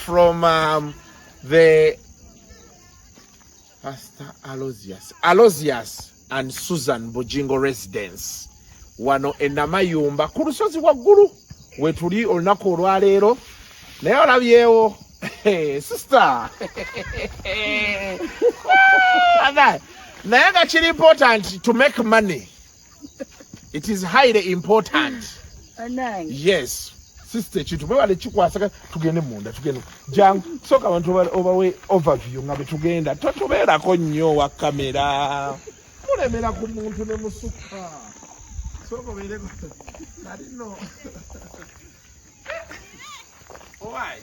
from um, the Pastor Alozius. Alozius and Susan Bujingo residence. Wano enama yumba. Kurusozi wa guru. Weturi olunako urwarero. Naya wala viewo. Hey, sister. Naya gachiri important to make money. it is highly important yes sister ekintu mwebale kikwasaka tugende munda tugende jangu soka abantu obawe overview nga betugenda totubeerako nnyo wa kamera mulemera ku muntu ne musukka soka obeereko nalino owaayi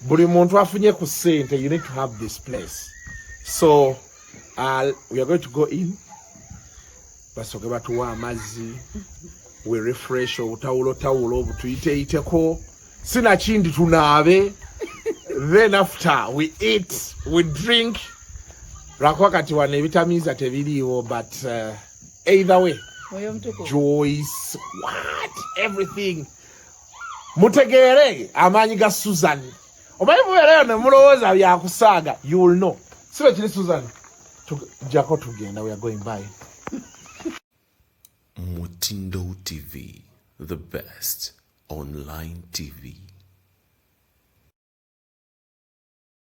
buli muntu afunye ku sente you need to have this place so uh, we are going to go in basoke batuwa amazzi we refresh obutawulo tawulo butuyiteyiteko sinakindi tunaabe then after we eat we drink lwakuba kati wano ebitamiiza tebiriiwo but uh, either way joyce what everything mutegeere amaanyi ga susan omanyi mubeerayo ne mulowooza byakusaaga you will know si lwe kiri susan jako tugenda we are going by mutindo tv the best online tv